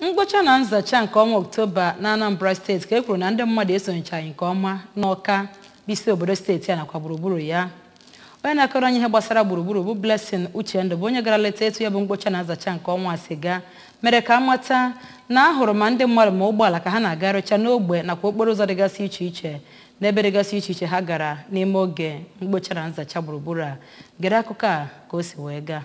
mkpocha na nzacha nke ọnwa oktoba na anambra state ka e kwuru na ndị mmadụ esonyechaghị nke ọma n'ọka bụ isi obodo steeti a nakwa gburugburu ya onye na-akọrọ anyị ihe gbasara gburugburu bụ blessing uchendu bụ onye gara leta etu ya bụ mkpocha na nzacha nke ọnwa si gaa mere ka a mata na ahụrụ ma ndị mmadụ ma ụgbọala ka ha na-agarịcha n'ogbe nakwa okporo ụzọ dịgasị iche iche n'ebe dịgasị iche iche ha gara n'ime oge mkpocha na nzacha gburugburu a gere akụkọ a ka o si wee gaa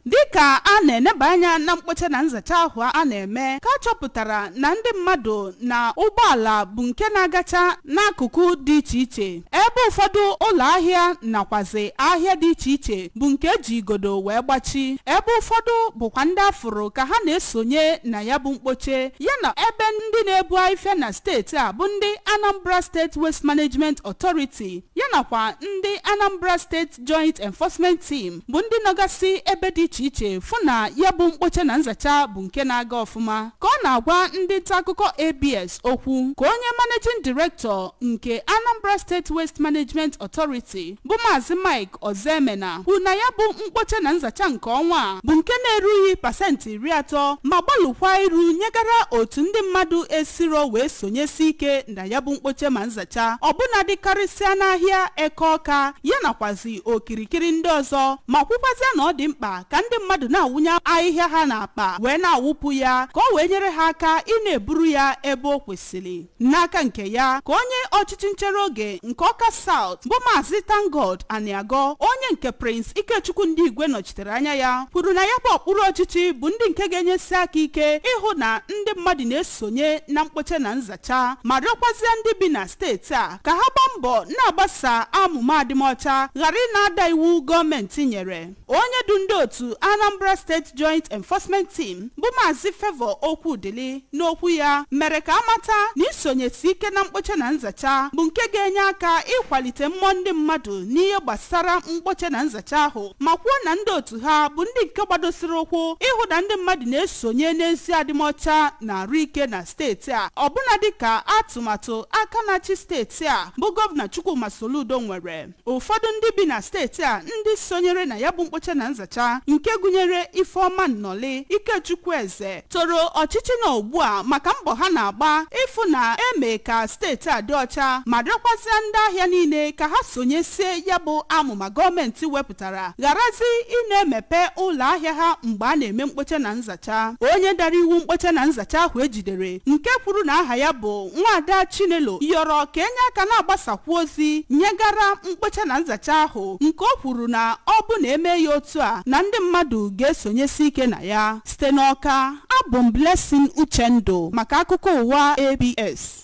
dịka a na-eneba anya na mkpocha na nzacha ahụ a na-eme ka a chọpụtara na ndị mmadụ na ụgbọala bụ nke na-agacha n'akụkụ dị iche iche ebe ụfọdụ ụlọ ahịa nakwazi ahịa dị iche iche bụ nke eji igodo wee gbachi ebe ụfọdụ bụkwa ndị afụrụ ka ha na-esonye na ya bụ mkpocha yana ebe ndị na-ebu afịfịa na steeti a bụ ndị Anambra State Waste Management Authority yanakwa ndị Anambra State Joint Enforcement Team bụ ndị nọgasị ebe dị iche iche fụ na ya bụ mkpocha na nzacha bụ nke na-aga ọfụma ka ọ na-agwa ndị nta akụkọ ABS okwu ka onye Managing Director nke Anambra State Waste Management Authority bụ Maazị Mike Ozemena kwuru na ya bụ mkpocha na nzacha nke ọnwa a bụ nke na-erughị pasentị iri atọ ma gbalụkwa iru nyegara otu ndị mmadụ esirọ wee sonyesi ike na ya bụ mkpocha ma nzacha ọbụna dịkarịsịa n'ahịa eke ọka ya nakwazi okirikiri ndị ọzọ ma kwukwazịa na ọ dị mkpa ka ndị mmadụ na-awụnye ahịhịa ha n'akpa wee na-awụpụ ya ka o wee nyere ha aka ị na-eburu ya ebe o kwesịrị n'aka nke ya ka onye ọchịchị nchere oge nke ọka South bụ maazị ThankGod Aniago onye nke Prince Ikechukwu Ndigwe nọchitere anya ya kwuru na ya bụ okpuru ọchịchị bụ ndị nke ga-enyesi aka ike ịhụ na ndị mmadụ na-esonye na mkpocha na nzacha cha ma rịọkwazịa ndị bi na steeti a ka ha gbaa mbọ na-agbaso amụma adịmọcha ghara ị na-ada iwu gọọmenti nyere onye du ndị otu Anambra State Joint Enforcement Team bụ Maazị Favour Okwudili n'okwu ya mere ka a mata na isonyesi ike na mkpocha na nzacha bụ nke ga-enye aka ịkwalite mmụọ ndị mmadụ n'ihe gbasara mkpocha na nzacha ahụ ma kwuo na ndị otu ha bụ ndị nke gbadosiri ụkwụ ịhụ na ndị mmadụ na-esonye n'ezi adịmọcha na arụ ike na steeti a ọbụna dịka atụmatụ aka na-achị steeti a bụ gọvanọ Chukwuma Soludo nwere ụfọdụ ndị bi na steeti a ndị sonyere na ya bụ mkpocha na nzacha nke gụnyere Ifeọma Nnọlị Ikechukwu Eze toro ọchịchị nọ ugbu a maka mbọ ha na-agba ịfụ na eme ka steeti a dị ọcha ma rịọkwazịa ndị ahịa niile ka ha sonyesie ya bụ amụma gọọmenti wepụtara wepụtara gharazi ị na-emepe ụlọ ahịa ha mgbe a na-eme mkpocha na nzacha onye dara iwu mkpocha na nzacha ahụ e jidere nke kwuru na aha ya bụ Nwaada Chinelo yọrọ ka e nye aka na-agbasakwu ozi nyegara mkpocha na nzacha ahụ nke o kwuru na ọ bụ na e mee ya otu a na ndị mmadụ ga-esonyesi ike na ya site n'Ọka abụ m Blessing Uchendụ maka akụkọ ụwa ABS